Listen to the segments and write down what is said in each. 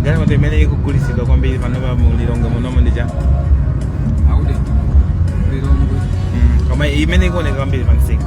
ndalama imene ikugulitsidwa kwambiri panopa mu lilongwe munomo ndi cha akuti lilongwe koma imene ikuoneka kwambiri pamsika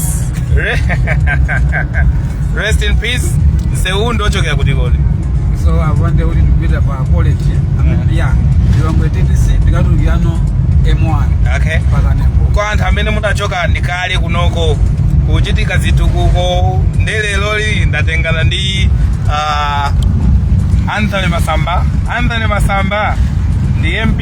rest in peace msewu ndi ochokera kuti kodi so apa nde kuti ndikupita pa college amene ya lilongwe ttc ndikatulukirano m1 okay pakanembo kwa anthu amene mudachoka ndi kale kunoko kuchitika zitukuko ndiye leroli ndatengana ndi ah, anthony masamba anthony masamba ndi mp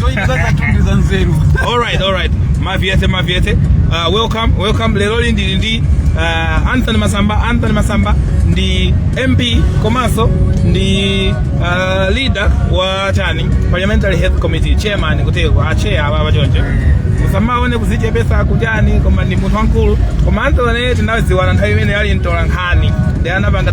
zoyipiza zatundu za nzeru alright alright maviyete maviyete uh, welcome welcome leroli ndili ndi uh, anthony masamba anthony masamba ndi mp komanso ndi uh, leader wa chani parliamentary health committee chairman kuteko acheya aba abachonje musamaone kuzichepesa kuchani koma ndi munthu wamkulu koma anthony tinaziwana nthawi imene ali mtolankhani ndi anapanga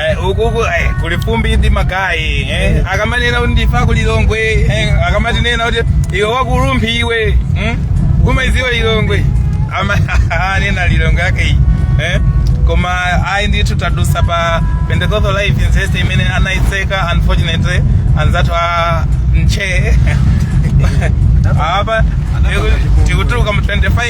Eh, uku uku eh, kuli fumbi ndi magayi eh. akamanena kuti ndife a ku lilongwe eh, akamatinena kuti iwe wakulumphi iwe hmm? kumaiziwa lilongwe Amanena lilongwe yake iyi eh? koma ayi ndithu tadusa pa pentecostal life university imene anayitseka unfortunately anzathu a nche apa tikutuluka mu 25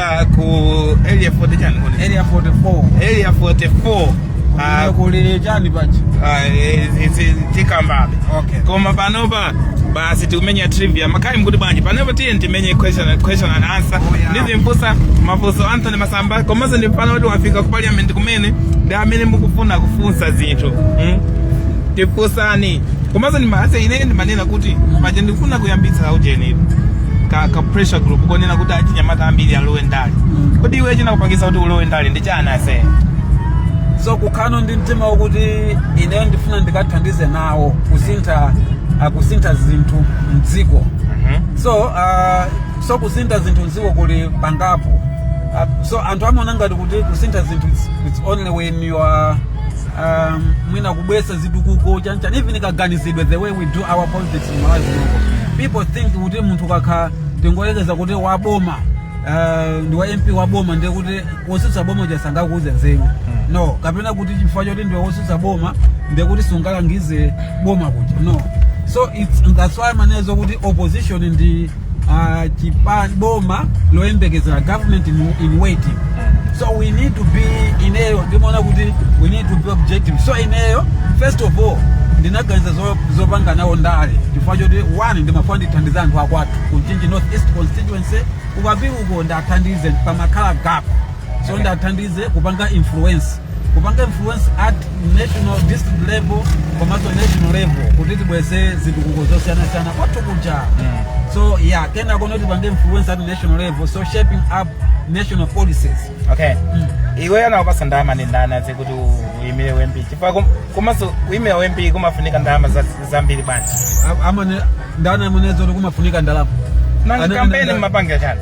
Ah, ku area 40 chani kodi? area 44 Area 44. Ah, Kumene kuli chani pachi ah, eh, eh, eh, tikambabe. okay Koma panopa basi tikumenya trivia. Magayi mukuti bwanji. Panopa tiye timenye question and question and answer. Oh, yeah. Ndizimfunsa mafunso Anthony Masamba komanso ndi pano kuti wafika ku parliament kumene ndi amene mukufuna kufunsa zinthu. Mm? Tifunseni. Komanso ndi maase ine ndimanena kuti paja ndikufuna kuyambitsa ujeni. ka, ka pressure group konena kuti achinyamata ambiri alowe ndale kodi iwe chinakupangisa kuti ulowe ndale ndi chani ase so kukhala ndi mtima wokuti ineyo ndifuna ndikathandize nawo kusintha ah, kusintha zinthu mdziko so uh, so kusintha zinthu mdziko kuli pangapo uh, so anthu amaona ngati kuti kusintha zinthu it's, it's only when you are um, mwina kubwesa zitukuko chanchani even kaganizidwe the way we do our pol- people think kuti munthu akakhala tingoyekeza kuti wa boma eh, ndi wa mp wa boma ndiye kuti wosutsa boma uja sangakuuze nzeru no kapena kuti chifukwa choti ndiwe wosutsa boma ndiye kuti sungalangize boma kuja no so it's, that's why amanenazo kuti opposition ndi uh, chipani boma loyembekezera government in, in waiting so we need to be ineyo ndimaona kuti we need to be objective so ineyo first of all ndinaganiza zo- zopanga nawo ndale chifukwa choti one ndimafuna ndithandize anthu akwathu kumchinji north east constituency ukapita uko ndithandize pamakhala gap so ndithandize kupanga influence kupanga influence at national district level komanso national level kuti tibweze zitukuko zosiyanasiyana kwathu kuja so yeah kena kono tipange influence at national level so shaping up national policies okay iwe anakupasa ndalama ndi ndani azi kuti uyimire u MP chifukwa kum- komanso kuyimira u MP kumafunika ndalama za- zambiri bwanji A- anena ndani amene zoti kumafunika ndalama nanga Ana- kampeni ana- mmapangira chani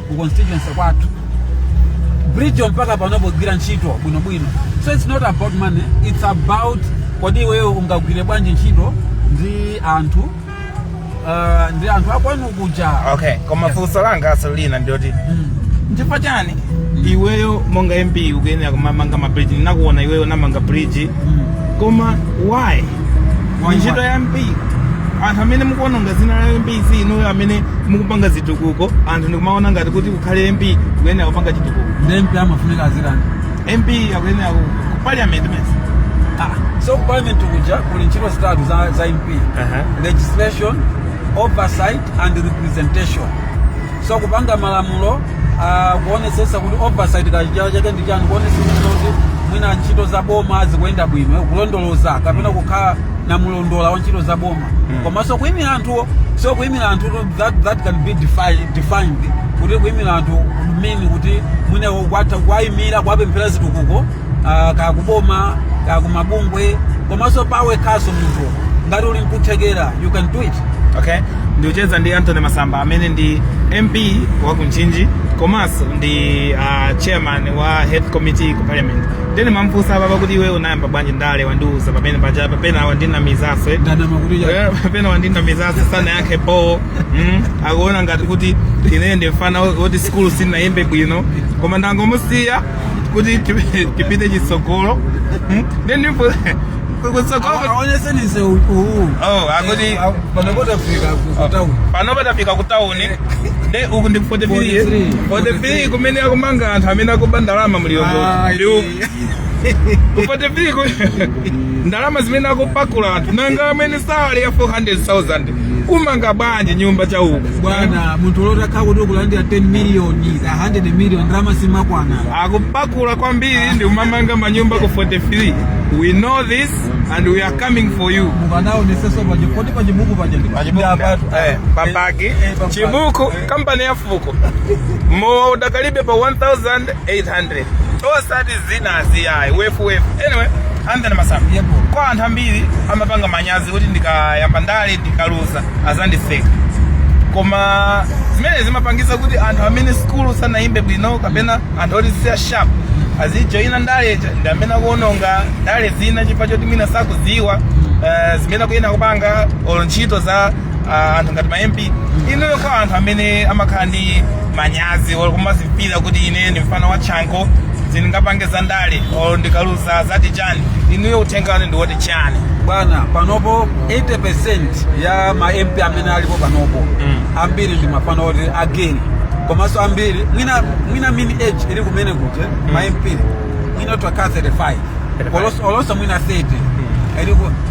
ku constituency kwathu bridge mpaka panopo ikugwira ntchito bwinobwino so it's not about money it's about kodi iweyo ungagwire bwanji ntchito ndi anthu uh, ndi anthu akwanu kuja okay koma Yes. funso langa aselo lina ndiyoti Mm. nchifukwa chani iweyo monga mp ukuyenera kumamanga mabridge ndinakuona iwe unamanga bridge Mm. koma why Ndi ntchito ya mp anthu amene mukuononga dzina la mp ndi inuyo amene mukupanga zitukuko anthu ndikumaona ngati kuti kukhala mp kuyenera kupanga chitukuko ndi mp amafunika azirani mp akuyenera ku ku parliament mesa Ah, so parliament kuja kuli ntchito zitatu za, za mp Aha. legislation oversight and representation so kupanga malamulo uh, kuonetsetsa kuti oversight pachichewa chake ndi chani kuonetsetsa kuti mwina ntchito za boma zikuyenda bwino kulondoloza kapena kukhala na mlondola wa ntchito za boma komanso kuimira anthuwo so kuimira anthu that, that can be defi- defined kuti kuimira anthu mean kuti mwina kwatha kuwaimira kuwapemphera zitukuko ah, kaya kuboma kaya kumabungwe komanso pawekhanso munthu ngati uli nkuthekera you can do it okay ndikucheza ndi antony masamba amene ndi mp wa kumchinji komanso ndi uh, chairman wa health committee ku parliament nde ndimamfunsa apapa kuti iwe unayamba bwanji ndale wandiuza pamene paja papena wandinamizanso eh? ndanama kuti cha- Eh, pena wandinamizanso sanayankhe bho mm, akuona ngati kuti ine ndi mfana woti sikulu sinayimbe bwino koma ndangomusiya kuti tipi- tipite chitsogolo Hmm? then ndipo kutsogolo awonetseni msewu Oh, akuti- panopo tafika kutauni panopa tafika ku tauni nde uku ndi 43 43. 43 kumene akumanga anthu amene akuba ndalama mulilongwe Ayi. ndi uku 43 ku- ndalama zimene akupakula anthu nanga amwene salary ya 400,000 kumanga bwanji nyumba cha uku bwana munthu oti akhala kuti ukulandira 10 million 100 million ndalama simakwana akupakula kwambiri ndi kumamanga manyumba ku 43 we know this and we are coming for you mukanaonetsetso paja kodi pa chibuku pachi ndi- Pa chibuku ndi apatu. ndi- eh, papaki, Eh, papaki. chibuku. kampani ya fuko mudakalibe pa 1800 osati zinazi ayi wefuwefu anyway anthony masamba Yebo. kwa anthu ambiri amapanga manyazi kuti ndikayamba ndale ndikaluza azandiseka koma zimene zimapangisa kuti anthu amene sikulu sanayimbe bwino kapena anthu oti si a sharp azijoyina ndale ija ndi amene akuononga ndale zina chifukwa choti mwina sakudziwa eh, zimene akuyenera kupanga olo ntchito za ah, anthu ngati ma mp inuyo kwa anthu amene amakhala ndi manyazi or kumadzimvera kuti ine ndi mfana wa chanko sindingapange za ndale or ndikaluza zati chani inuyo uthenga wanu ndi woti chani bwana panopo 80% ya ma mp amene alipo panopo ambiri ndi mafana oti ageni komanso ambiri mwina mwina mini age ili kumene kuti ma mp mwina zaka 35 Olonso- olonso mwina 30 Ili ku-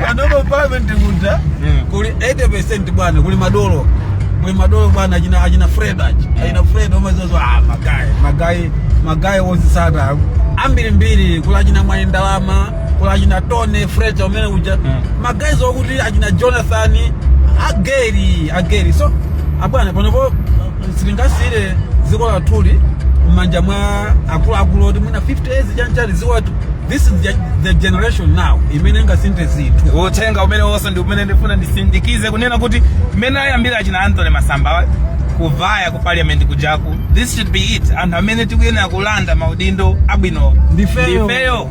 Madolo parliament kuja Mm. kuli 80% bwana kuli madolo. Kuli madolo bwana achina achina Fred achi. Achina Fred omazozo ah magai. Magai magai wonse sada. Ambiri mbiri kuli achina Mwayi Ndalama, kuli achina Tony Fred amene uja. Mm. Magai zokuti achina Jonathan ageri ageri so abwana panopo sitingasiyire dziko lathuli m'manja mwa akuluakulu oti mwina 50 years chanchali dziko lathu this is the, the generation now imene ingasinthe zinthu uthenga umene uwonso ndi umene ndifuna ndisindikize kunena kuti mmene ayambira achina antony masamba kuvaya ku parliament kujaku this should be it anthu amene tikuyenera kulanda maudindo abwino Ndifeyo. ndifeyo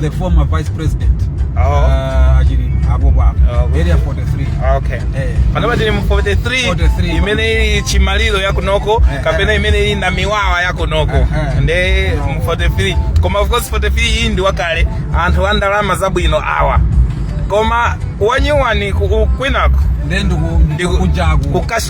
the former vice president Oh. ah, achilima apo papo Oh. area 43 okay Eh. panopa tili mu 43 43. imeneyi ndi chimaliro yakunoko Eh, kapena eh. imeneyi ndi namiwawa yakunoko Eh, eh. nde mu 43 koma of course 43 iyi ndi wakale anthu a ndalama zabwino awa koma wanyuwani ku- kwinako then ndiku- Ndiku- ndikukunjaku kukash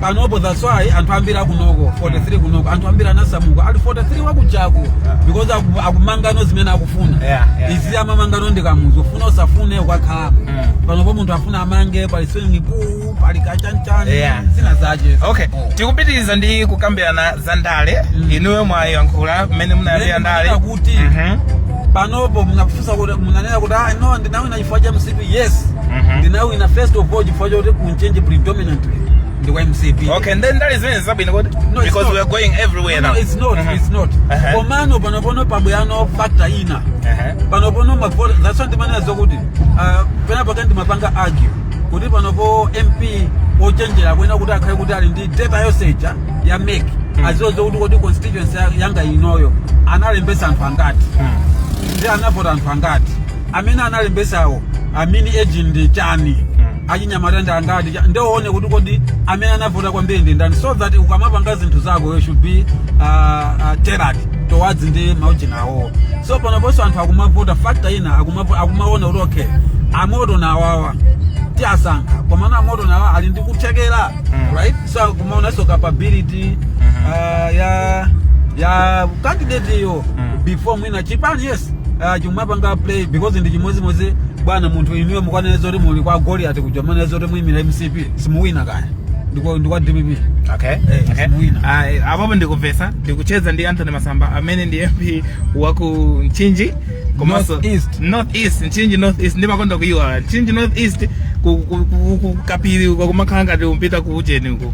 panopo that's why anthu ambiri akunoko 43 kunoko anthu ambiri anasamuka ali 43 wakujaku because aku- akumangano zimene akufuna Yeah, yeah, izi yeah. amamangano ndi kamuzu ufuna usafune ukakhalapo Mm. panopo munthu afuna amange pali swimming pool pali kachanchani Yeah. zina zache okay Oh. tikupitiriza ndi kukambirana za ndale Mm. inuyo mwayankhula mmene munayambira Then ndale kunena kuti Mhm. panopo munafunsa kuti munanena kuti ah no ndinawina chifukwa cha mcp yes Mhm. ndinawina first of all chifukwa chakuti ku Mchinji predominantly ndi kwa mcp okay then ndale zimene zabwino kodi No, it's because not. we are going everywhere No, now no, it's not Mhm. it's not Aha. komano panopono pabweranso factor ina Aha. panopono mavota that's why ndimanena zokuti ah, pena pake ndimapanga argue kuti panopo mp ochenjera akuyenera kuti akhale kuti ali ndi data yosecha ya mec aziwe zokuti kuti constituency ya- yanga inoyo analembesa anthu angati Mm. ndipo anavota anthu angati amene analembesawo mean age ndi chani achinyamata ndi angati cha- nde uone kuti kodi amene anavota kwambiri ndi ndani so that ukamapanga zinthu zako you should be uh, uh, tailored towards ndi maujeni awowo so panoponso anthu akumavota factor ina akumavo- akumaona kuti okay amtonga awawa tiasankha komano amtonga awawa ali ndi kuthekera Mm. right so akumaonanso capability uh, ya ya candidate yo Mm. before mwina chipani yes uh, chimapanga play because ndi chimodzimodzi bwana munthu inuyo mukanene zoti muli kwa goliati kuja mwanena zoti muyimira mcp simuwina kaya ndikwa ndikwa dpp okay Eh, okay simuwina. Ah, apapo ndikumvetsa ndikucheza ndi anthony masamba amene ndi mp waku mchinji komanso North East. north east mchinji north east ndimakonda kuyiwala mchinji north east ku- ku- ku- ku- kapiri uko kumakhala ngati ukupita ku ujeni uko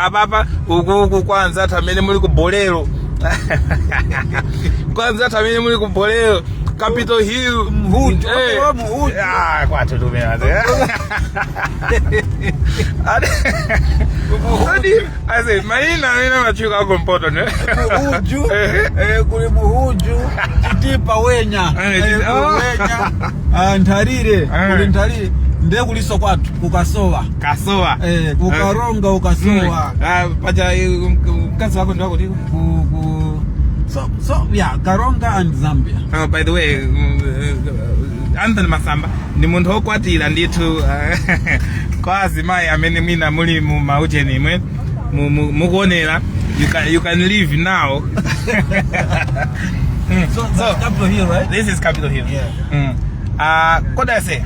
apapa ukuku kwa anzathu amene muli ku bolero kwa anzathu amene muli ku bolero capital hill Mhuju, Eh. wa Mhuju. Ah, kwathu tumena Adi, I said maina amene amatchuka aku mpoto ndi mhuju Eh. eh, kuli mhuju chitipa wenya Eh, Eh, chiti- kuli Ah. wenya Ah, nthalire Eh. kuli nthalire ndiye kuliso kwathu kukasowa kasowa eh, kukaronga kukasowa Mm. Ah, paja eh, mk- mkazi wako ndiwakuti ku, ku, so, so yeah karonga and zambia Ah, by the way mm, eh, anthony masamba ndi munthu wokwatira ndithu ah, kwa azimayi amene mwina muli mu maujeni umu Mu- mu- mukuonera you can, you can leave now So that's So- capital hill, right? this is capital hill Yeah. mm. uh, kodi ase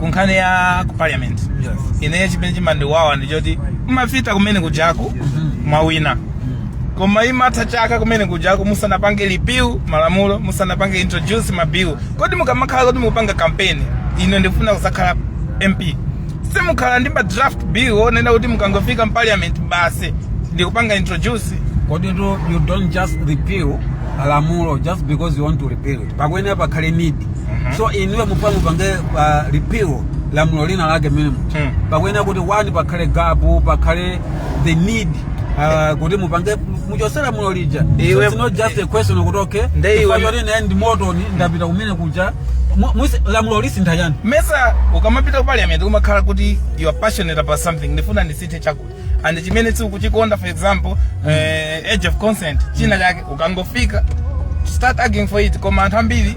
kunkhani ya ku parliament Yes. ineyo chimene chimandiwawa ndichoti mumapita kumene kujaku mwawina koma imatha chaka kumene kujaku musanapange repeal malamulo musanapange introduce mabill kodi mukamakhala kuti mukupanga kampeni ine ndikufuna kuzakhala mp simukhala ndi ma draft bill onena kuti mukangofika mparliament basi ndikupanga introduce kodi tu you don't just repeal lamulo just because you want to repeal it pakuyenera pakhale need so inuyo mupanga mupange uh, repeal lamulo lina lake minimum Mm. pakuyenera kuti one pakhale gapu pakhale the need uh, kuti mupange muchosera mulo lija Iwe- so it's not just a question okuti okay Nde iwe- chifukwa choti naye ndi motoni ndapita kumene kuja Mu- musi- lamulo lisintha chiyani mesa ukamapita ku parliament umakhala kuti you are passionate about something ndifuna ndisinthe chakuti and chimene sukuchikonda for example eh, age of consent china chake ukangofika start arguing for it koma anthu ambiri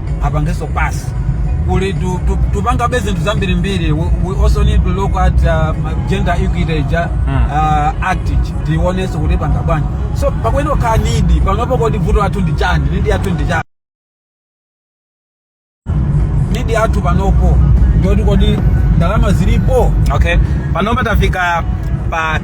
apangenso pass kuli tu- tu- tupangabe zinthu zambirimbiri we, we also need to look at uh, gender equity ija Mm. uh, act ija tionenso kuti tipanga bwanji so pakuyenera kukhala nidi panopo kodi vuto lathu ndi chani need yathu ndi chani need yathu panopo ndiyoti kodi ndalama zilipo okay panopo tafika pa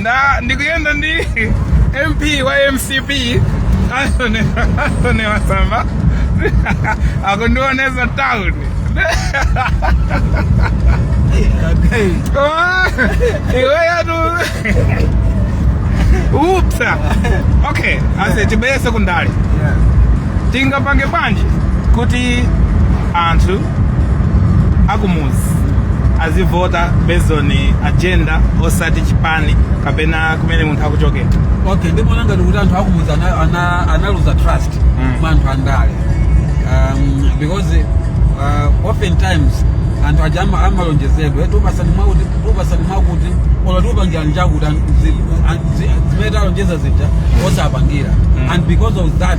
nda ndikuyenda ndi mp wa mcp Anthony Anthony Masamba akundionetsa town Koma, iweyo udzapsa okay ase ti- bye sekondale tingapange bwanji kuti anthu akumuzi azivota based on agenda osati chipani kapena kumene munthu akuchokera okay ndimaona ngati kuti anthu akumuzi ana- ana- analuza trust Mm. mwa anthu andale um, because uh, oftentimes anthu aja ama- amalonjezedwa "Eh, tupasani mwakuti tupasani mwakuti ola tupangirani chakuti an- zi- an- zi- zimene alonjeza zija osapangira Mm. and because of that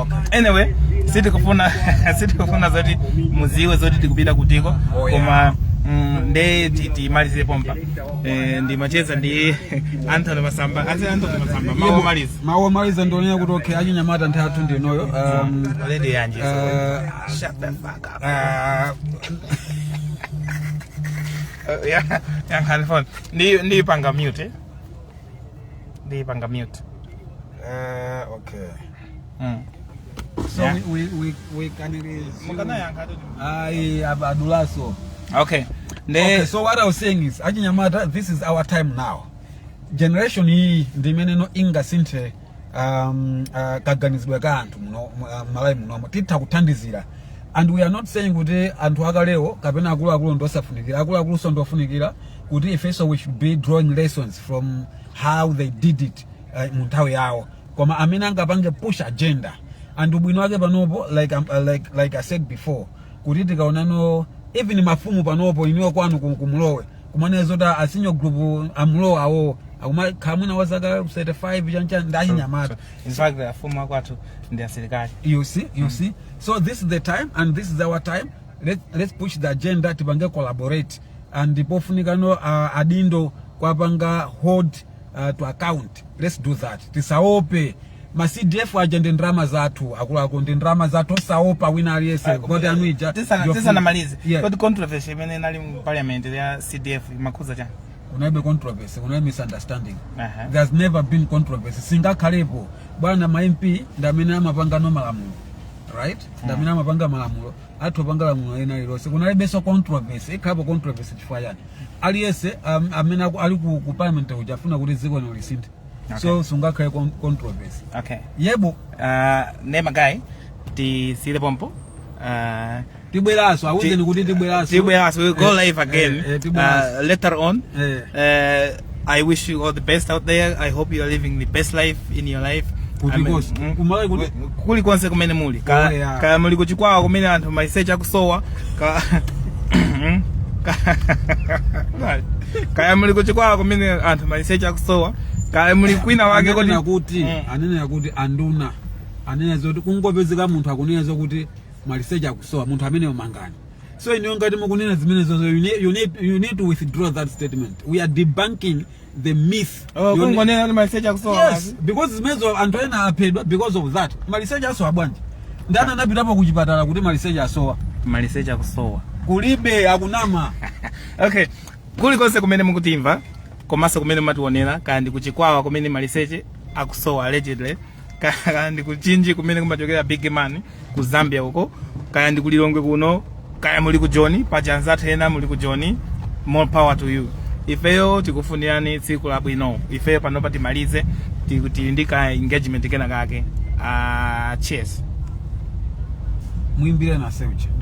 okay. anyway sitikufuna sitikufuna zoti muziwe zoti tikupita kutiko Oh, yeah. koma mm, nde ti- timalize pompa eh, ndimacheza ndi anthony masamba ati anthony masamba mawu omaliza mawu omaliza ndi onena kuti okay achinyamata nthawi yathu ndi inoyo um, lady yanji so. eh, shut the fuck up ah, Eh, ya- yankhani phone ndi ndiyipanga mute eh? ndiyipanga mute Eh, okay. mm. So Yeah. we, we, we, we can resume. mukanayankha toti Ayi, ab- adulanso. okay nde Okay, so what I was saying is, Achinyamata, this is our time now. Generation iyi ndi imeneno ingasinthe um, uh, kaganizidwe ka anthu muno mu- uh, malawi munomo titha kuthandizira and we are not saying kuti anthu akalewo kapena akuluakulu ndi osafunikira akuluakulunso ndi ofunikira kuti ifenso we should be drawing lessons from how they did it uh, mu nthawi yawo koma amene angapange push agenda and ubwino wake panopo like, um, uh, like, like i said before kuti tikaonanso even mafumu panopo inuyo kwanu ku- kumulowe kumanena zoti a senior group amulowe awowo akumakhala mwina wazaka 35 chanchani ndi achinyamata in fact afumu akwathu ndi asilikali you see you see so this is the time and this is our time let's, let's push the agenda tipange collaborate and pofunikanso uh, adindo kwapanga hold uh, to account let's do that tisaope ma cdf aja ndi ndalama zathu akuluakulu ndi ndalama zathu osaopa wina aliyense mavoti anu ija Tisana- Your tisanamalize food. Yeah. kodi controversy imene inali mu parliament ya cdf imakhuza chani kunalibe controversy kunalibe misunderstanding Aha. there's never been controversy singakhalepo bwana ma mp ndi amene amapangano malamulo right ndi amene amapanga malamulo atha kupanga lamulo lina lilonse kunalibenso controversy ikhalapo controversy chifukwa chani aliyense am- amene aku- ali ku ku parliament uja afuna kuti dziko lino lisinthe so sungakhale con- controversy okay yebo uh, nde magayi tisiyire pompa uh, tibweranso awuzeni kuti tibweranso tibweranso we go Eh, live again eh, eh, tibweranso. uh, later on Eh. uh, I wish you all the best out there. I hope you are living the best life in your life. Kuti Amen. konse. Mm. Kumalawi kuli- kuli konse kumene muli Kaya- Kaya- ya. kaya muli kuchikwawa kumene anthu maliseche akusowa ka- Mm. Ka- kaya muli kuchikwawa kumene anthu maliseche akusowa kaya muli kwina wake ananena kuti Mm. ananena kuti anduna ananena zoti kungopezeka munthu akunena zokuti maliseche akusowa munthu ameneyo mangani so inuyo ngati mukunena zimenezozo you need, you, need, you need to withdraw that statement we are debunking the myth Oh, You need- kungonena kuti maliseche akusowa yes basi. because zimenezozo anthu ena aphedwa because of that maliseche asowa bwanji ndani anapitapo ku chipatala kuti maliseche asowa maliseche akusowa kulibe akunama okay kulikonse kumene mukutimva komanso kumene mumatiwonera kaya ndi kuchikwawa kumene maliseche akusowa allegedly kaya ndi ku mchinji kumene kumachokera big man ku zambia uko kaya ndi ku lilongwe kuno kaya muli ku joni paja anzathu ena muli ku joni more power to you ifeyo tikufunirani tsiku labwino ifeyo panopa timalize ti- tili ndi ka engagement kenakake uh, cheers mwimbire na seucha